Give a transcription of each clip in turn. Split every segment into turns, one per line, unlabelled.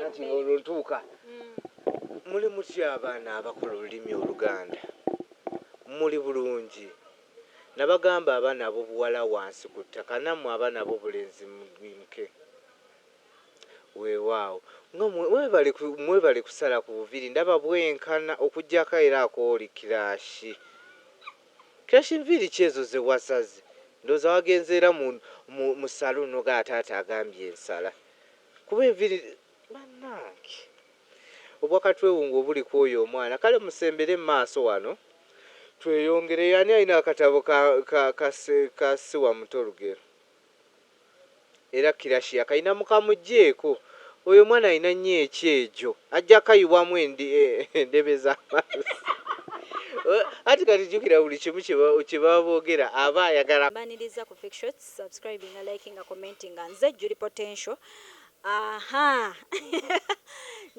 anti olwo ntuuka muli mutya abaana abakola olulimi oluganda muli bulungi nabagamba abaana abobuwala wansi ku ttaka namwe abaana abobulenzi mugimke wewaawo nga mwebale mwebale kusala ku buviri ndaba bwenkana okujjako era akooli kirashi kirashi nviiri ki ezo zewasaze ndowooza wagenze era mu mu mu saloon nogamba taata agambye nsala. Kuba enviri banange. Obwa katwewungu obuli kwoyo omwana kale musembere mumaaso wano tweyongereyo ani alina akatabo ka ka ka ka siwamuto lugero era kirashi akalina mukamujeko oyo omwana alina nyo ekyejo ajja kayiwamu endi endebe zamazzi anti kati jukira buli kimu kyebaba bogera aba ayagala Mbaniriza ku fake shots.
subscribinga likinga commentinga nze juli potential aha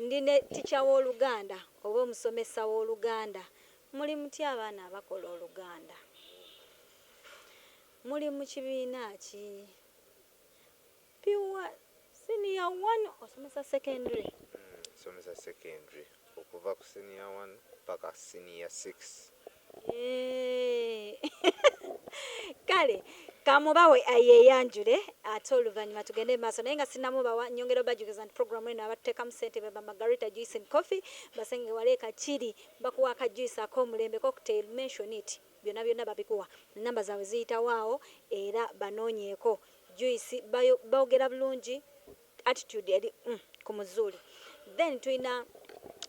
ndi ne ticha w'oluganda oba omusomesa w'oluganda muli mutya abaana abakola oluganda muli mu kibiina ki piwa siniya one osomesa secondary hmm, somesa
secondary okuva ku siniya one paka siniya six
kale kamubawe ayeyanjule ate oluvannyuma tugende mu maaso naye nga sinamubawa nyongera obajukiza nti programu eno abatutekamu sente beba margarita juice and coffee basenge wale kakiri bakuwa akajuice ak'omulembe cocktail mention it byonna byonna babikuwa namba zaabwe ziyitawaawo era banoonyeeko juice boogera bulungi attitude eri mm, ku muzuuli then tulina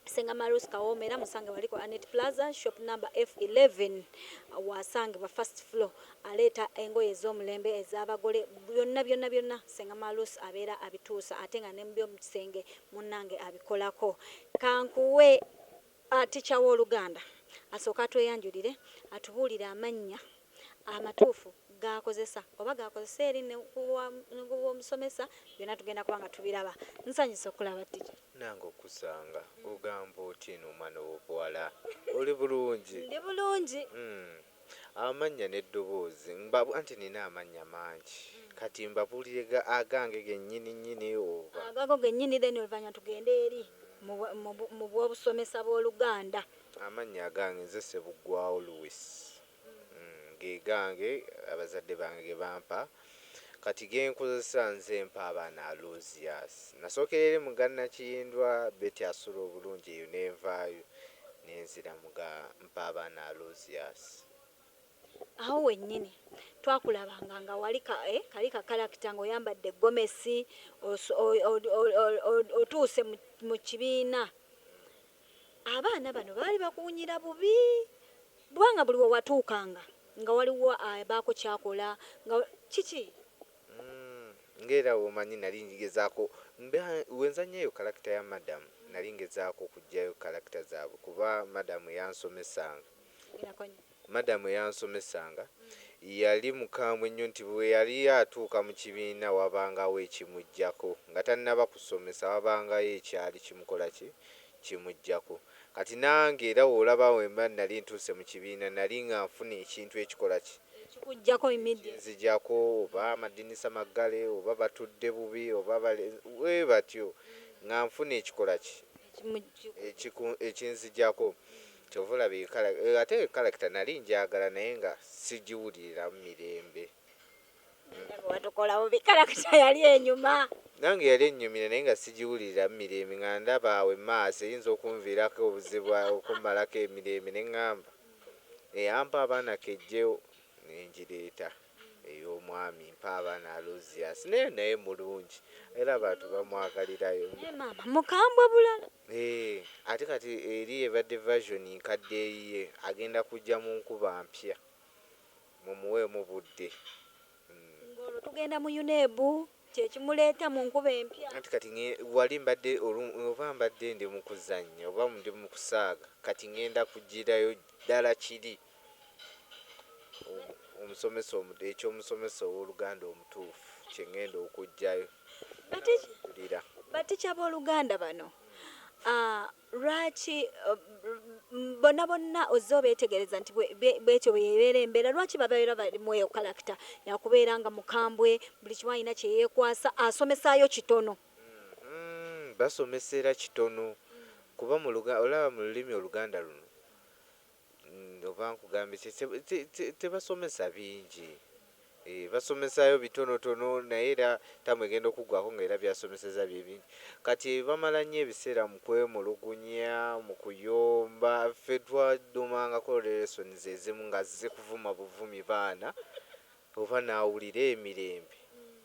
senga marus kawoma era musange wali ku anet plaza shop number f11 wasangibwa first floor aleeta engoye ez'omulembe ez'abagole byonna byonna byonna senga marus abeera abituusa ate nga ne mu byomukisenge munnange abikolako kankuwe A Teacher w'Oluganda asooke atweyanjulire atubuulire amannya amatuufu g'akozesa oba g'akozesa eri ne ku wa ne ku w'omusomesa byonna tugenda kuba nga tubiraba. Nsanyuse okukulaba Teacher. Nange okukusanga.
Ogamba otya eno omwana ow'obuwala? Oli bulungi? Ndi bulungi.
Hum.
Amannya n'eddoboozi nba anti nnina amannya mangi kati mbabuulire ga agange gennyini nnyini oba? Agago gennyini then
oluvannyuma tugende eri mu mu mu bw'obusomesa bw'Oluganda. Amannya agange
nze Ssebuggwawo Louis. Ge gange abazadde bange ge bampa Kati genkozesa nze mpa abaana aluzias. Nasokera eri muga Nakiyindwa Betty asula obulungi eyo nenvaayo nenzira muga mpa abaana aluzias.
Awo wenyini twakulabanga nga wali ka eh kali ka character nga oyambadde gomesi otuuse mu kibiina. Abaana bano baali bakuwunyira bubi kubanga buli we watuukanga nga waliwo abaako ky'akola nga kiki?
Ng'era omanyi nnali ngezaako mba we nzannya eyo kalakita ya Madam nnali ngezaako okuggyayo kalakita zaabwe kuba Madam y'ansomesanga. Nkitegera ko nnyo. Madam eyansomesanga yali mukambwe nnyo nti bwe yali atuuka mu kibiina wabangawo ekimujjako nga tannaba kusomesa wabangayo ekyali kimukola ki? kimujjako. Kati nange era w'olaba bwe mba nnali ntuuse mu kibiina nnali nga nfuna ekintu ekikola ki? Ekikujjako
immediately. Ekinzijako
oba amadinisa maggale oba batudde bubi oba bale bwe batyo nga nfuna ekikola ki? Ekimu, ekiku, ekinzijako. Kyova olaba eyo kalakita eyo ate eyo kalakita nali njagala naye nga sijiwuliriramu mirembe. Ndaba
watukola bubi kalakita yali enyuma. Nange yali ennyumira
naye nga sigiwuliriramu mirembe nga ndaba awo emaaso eyinza okunviirako obuzibu okummalako emirembe ne ŋŋamba eyampa abaana kejje ne ngireeta ey'omwami mpa abaana Alozius naye naye mulungi era abantu bamwagalirayo. Naye maama mukambwe
bulala. Eeh ate
kati eri ebadde version nkadde eyiye agenda kujja munkuba mpya mumuweemu budde. Nga
olwo tugenda mu UNEB kyekimuleeta munkuba empya. Anti kati nge wali
mbadde oba mbadde ndi mukuzanya oba ndi mukusaaga kati ngenda kujirayo dala kiri. omusomesa eky'omusomesa ow'oluganda omutuufu kye ŋŋenda okuggyayo n'abakulira.
Batica b'oluganda bano ah, lwaki eh, bonna bonna ozze obeetegereza nti bwetyo bweyebeera embeera lwaki babeera balimu eyo kalakita yakubeera nga mukambwe buli kimu alina kyeyekwasa asomesaayo kitono mm-hmm.
basomesera kitono kuba olaba mu lulimi oluganda luno Oba nkugambye ki, tebasomesa bingi, basomesayo bitonotono naye era tamu egenda okuggwako nga era byasomeseza byebingi, kati bamala nnyo ebiseera mukwemulugunya, mukuyomba, ffe twadumangako lesson zezimu nga zikuvuma buvumi baana. Oba nawulira emirembe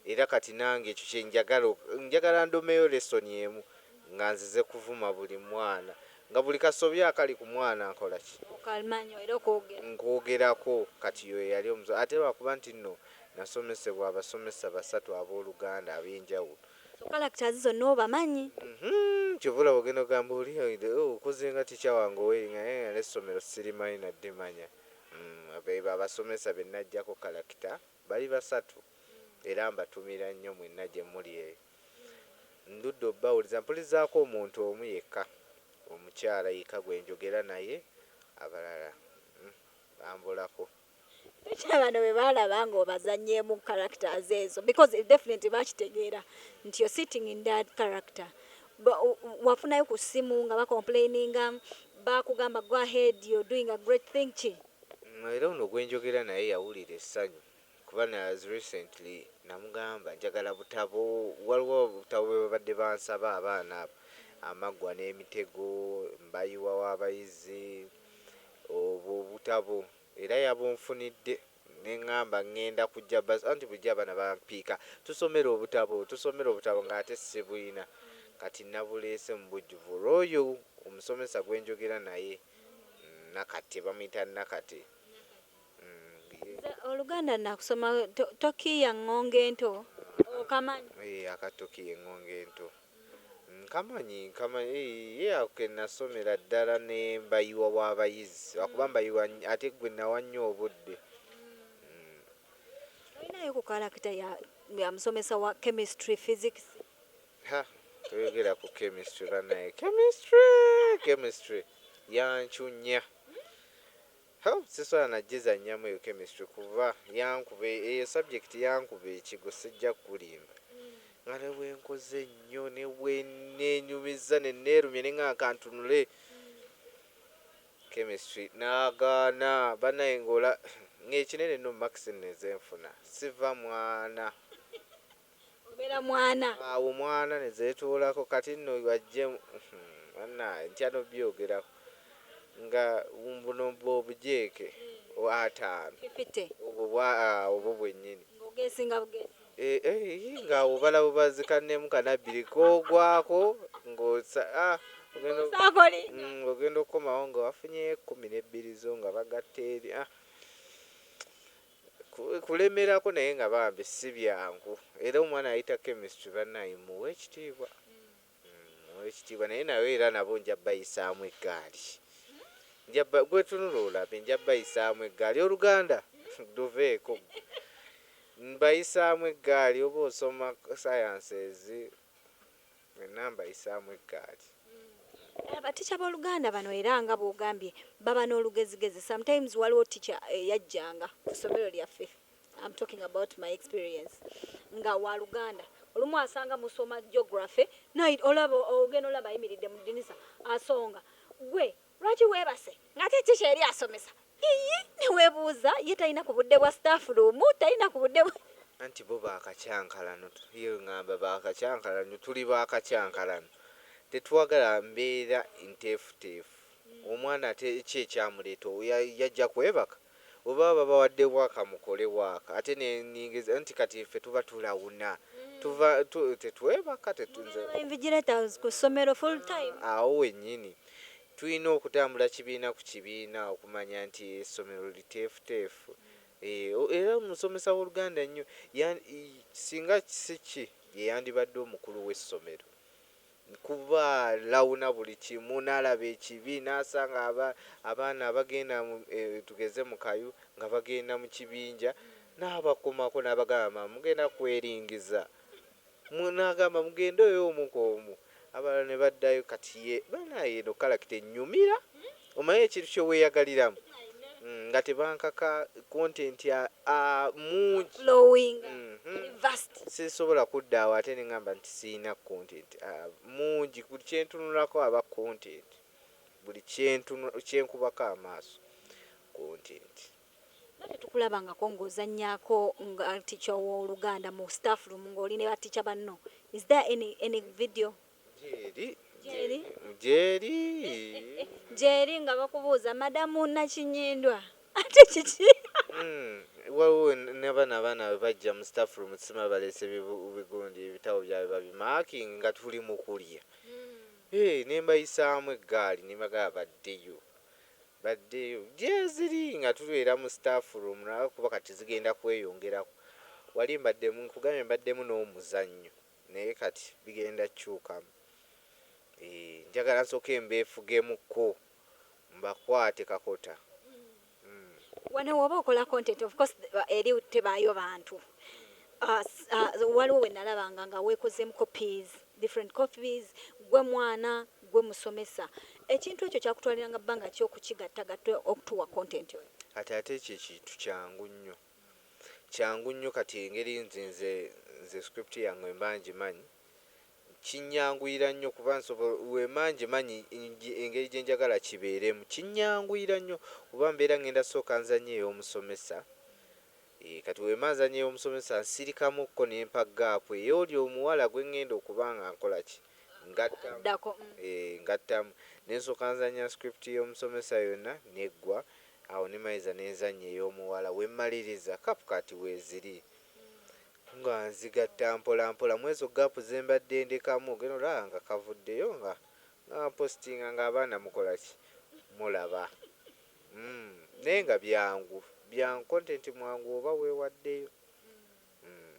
era kati nange ekyo kyenjagala njagala ndomeyo lesson emu nga nzize kuvuma buli mwana nga buli kasobyo akali ku mwana nkolaki? Okalmanya era okogerako. Nkogerako kati yoyo yali omuso ate lwakuba nti nno nasomesebwa abasomesa basatu aboluganda abenjawulo. So characters
zonna obamanyi? Uhmm kyova olaba
ogenda ogamba oli okoze nga teacher wange oweringa naye nga nessomero sirimanyi nadde manya. Be abasomesa be nnaggyako kalakita. Bali basatu era mbatumira nnyo mwenna gye muli eyo. Ndudde obawuliza. Mpulizaako omuntu omu yekka omukyala yekka gwe njogera naye, abalala bambulako. Tokiraba
bano bwe baalaba ng'obazannyeemu characters ezo because definitely baakitegeera nti you're sitting in that character. wafunayo ku simu nga bakomplaininga bakugamba go ahead your doing a great thing ki. Era ono
gwenjogera naye yawulira essanyu kuba as recently namugamba njagala butabo waliwo obutabo bwebabadde bansaba abaana abo amaggwa n'emitego mbayiwa w'abayizi obwo obutabo era yabunfunidde. Nengamba ngenda kujja bus anti bulijjo abaana bampiika tusomera obutabo tusomera obutabo nga ate sibuyina kati nabuleese mubujjuvu olwoyo omusomesa gwenjogera naye Nakate bamuyita Nakate umm. Nze
oluganda nakusoma to tokiiya ngongo ento okamanyi? Eeh aka tokiiya engongo
ento. Nkamanyi nkamanyi eeh ye ako kenasomera ddala ne mbayiwa wa bayizi lwakuba mbayiwa ate gwe nawa nnyo obudde
mm. Olinayo ku character ya, ya musomesa wa chemistry, physics? Ha
toyogera ku chemistry banaye chemistry chemistry yancunya. Hoo siswala najizanyamu eyo chemistry kuba yankuba eyo subject yankuba ekigwo sijja kukulimba nga nebwenkoze nyo nebwenenyumizza nenerumya nengamba kantunule chemistry nagaana banaye nga ola nga ekinene no marks nno ezenfuna siva mwana.
Obeera mwana. Awo mwana
nezetuulako kati nno bajje uhmm banaye ntya nobyogerako nga buno obujeeke ataano obwo bwa obwo bwenyini
eeh nga
obala bubazi kanne mu kano abbiri kogwako ngo sa uhmm ogenda okukomawo nga wafunyeyo ekkumi nebbiri zo nga bagatta eri ahh. kulemerako naye nga bambi sibyangu era omwana ayita chemistry banaye muwe ekitiibwa muwe ekitiibwa naye nawe era nabo nja bayisaamu eggaali nja gwetunula olabe nja bayisaamu eggaali oluganda luveeko mbayisaamu eggaali oba osoma sciences Mwenna mbayisaamu eggaali. Abatica
b'oluganda bano era nga bwogambye baba n'olugezigezi sometimes waliwo teacher eyajjanga ku somero lyaffe am talking about my experience nga wa luganda olumu asanga musoma geography naye olaba ogenda olaba ayimiridde mu ddinisa asonga gwe Lwaki webase ngate ki kyeri asomesa iyii newebuuza ye talina ku budde bwa staff room talina ku budde bwa. Anti bo ba
kakyankalano ye ngamba ba kakyankalano tuli ba kakyankalano tetwagala mbeera nteefuteefu omwana ate ki ekyamuleeta oyo yajja kwebaka Oba babawadde work mukole work ate nenyingiza anti kati ffe tuba tulawuna tuva tu tetwebaka tetu Mugenda nze ba
invigilators ku ssomero full time? Awo wenyini
tulina okutambula kibiina ku kibiina okumanya nti essomero liteefuteefu eeh o era omusomesa woluganda nnyo yan i singa si ki yeyandibadde omukulu wessomero. Kuba lawuna buli kimu nalaba ekibi nasanga aba abaana abagenda tugeze mu kayu nga bagenda mu kibinja nabakomako nabagamba mugenda kweringiza mwe nagamba mugende oyo omu kwomu abalala nebaddayo kati ye banaye eno character enyumira Omanyi ekintu kyeweyagaliramu nga tebankaka content a mungi
sisobola kudda
awo ate nengamba nti siyina content a mungi buli kyentunulako aba content buli kyenkubako amaaso content. Nga
tetukulabangako nga ozanyako nga teacher owoluganda mu staffroom nga oli ne ba teacher banno is there any any video. Gyeri. Gyeri. Gyeri. Gyeri nga bakubuuza madamu Nakinyindwa ate kiki? Mm,
waliwo nabana abaana we bajja mu staff room tusima baleese bigundi ebitabo byabwe babimaking nga tuli mu kulya mm. hey, eh, ne mbayisaamu eggaali ne bagala baddeyo baddeyo gyeziri nga tulwera mu staff room nakuba kati zigenda kweyongerako wali mbaddemu nkugambye mbaddemu n'omuzannyo Naye kati bigenda kyukamu. Eeh njagala nsoke mbefugemu ko mbakwate kakota uhmm.
Wano woba okola content of course eri tebaayo bantu waliwo wenalabanga nga wekozemu copies different copies gwe mwana gwe musomesa ekintu ekyo kyakutwaliranga bbanga ki okukigattagatta okutuwa content oyo. Kati ate ekyo ekintu
kyangu nnyo. kyangu nnyo kati engeri nti nze nze script yange mba ngimanyi kinyanguyira nnyo kuba nsobola wemba ngimanyi engeri gye njagala kibeeremu kinyanguyira nnyo kuba mbeera ngenda sooka nzanye ey'omusomesa ee kati wemba nzanye ey'omusomesa nsirikamukko ne mpa gaapu ey'oli omuwala gwe ngenda okuba nga nkola ki ngatta ee ngattamu ne nsooka nzanya script y'omusomesa yonna n'eggwa Awo ne maliza ne nzannya ey'omuwala. We mmaliriza, CapCut weeziri nga nzigatta mpola mpola mw'ezo ggaapu ze mbadde ndekamu. Gen. Olaba nga kavuddeyo nga nga mpositinga nga abaana mukola ki? Mulaba? Umm, naye nga byangu, byangu, kontenti mwangu oba weewaddeyo. Umm.